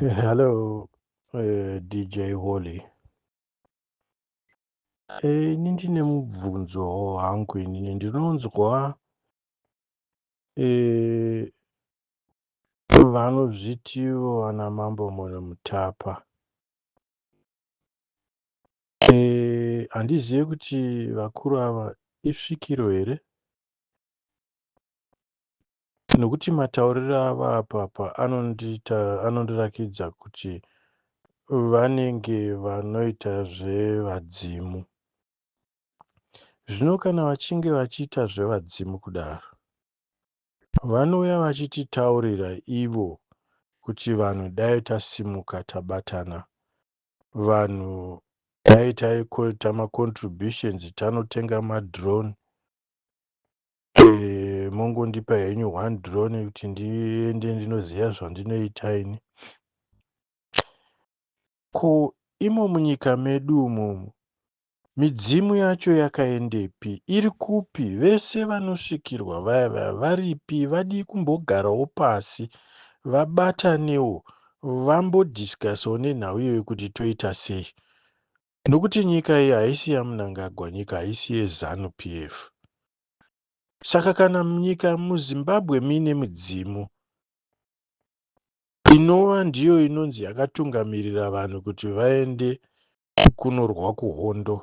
Hello, uh, eh, DJ Holy. Eh, ini ndine mubvunzo hangu inini ndinonzwa eh, vanozvitiwo ana mambo muno mutapa Eh, handizive kuti vakuru ava isvikiro here nokuti matauriro ava apapa anondiita anondirakidza kuti vanenge vanoita zvevadzimu zvino kana vachinge vachiita zvevadzimu kudaro vanouya vachititaurira ivo kuti vanhu dai tasimuka tabatana vanhu dai taikoita macontributions tanotenga madrone e, mongondipa henyu one drone kuti ndiende ndinoziva zvandinoita ini ko imo munyika medu umomo Midzimu yacho yakaendepi? Iri kupi? Vese vanosvikirwa vaya vaya varipi? Vadii kumbogarawo pasi vabatanewo vambo discussawo nenhau iyoyo kuti toita sei? Nokuti nyika iyi haisi yaMnangagwa, nyika haisi yeZanu PF. Saka kana nyika muZimbabwe muine midzimu inova ndiyo inonzi yakatungamirira vanhu kuti vaende Kukunurwa kuhondo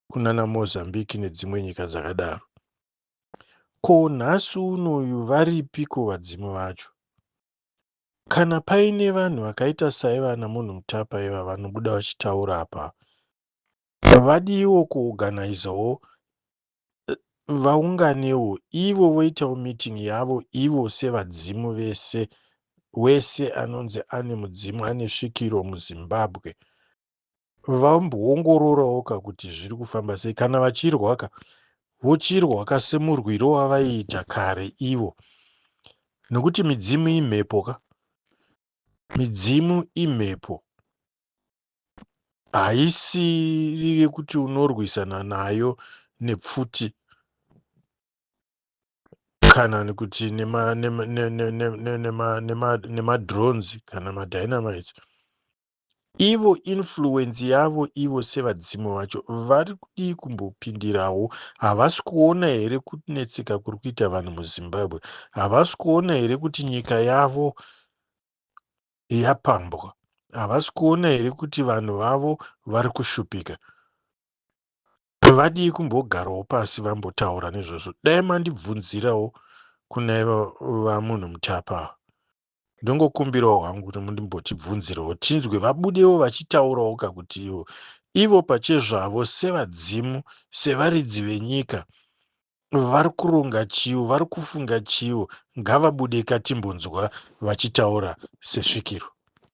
kunana Mozambique nedzimwe nyika dzakadaro. Ko nhasi unoyu varipiko vadzimu vacho? Kana paine vanhu vakaita saivana munhu mutapa iva vanobuda vachitaura apa vadiiwo kuoganaizawo vaunganewo ivo voitawo meeting yavo ivo sevadzimu vese wese anonzi ane mudzimu ane svikiro muzimbabwe vamboongororawo ka kuti zviri kufamba sei kana vachirwa ka vochirwa ka semurwiro wavaiita kare ivo nekuti midzimu imhepo ka midzimu imhepo haisiri yekuti unorwisana nayo nepfuti kana kuti nemadrones kana madynamite ivo influence yavo ivo sevadzimu vacho vari kudii kumbopindirawo havasi kuona here kunetseka kuri kuita vanhu muzimbabwe havasi kuona here kuti nyika yavo yapambwa havasi kuona here kuti vanhu vavo vari kushupika vadii kumbogarawo pasi vambotaura nezvazvo dai mandibvunzirawo kuna vamunhu mutapa ava ndongokumbirawo hangu kuti mundimbotibvunzirawo tinzwe vabudewo vachitaurawo ka kuti ivo ivo pachezvavo sevadzimu sevaridzi venyika Vari kuronga chiiwo vari kufunga chiiwo ngavabude ka timbonzwa vachitaura sesvikiro.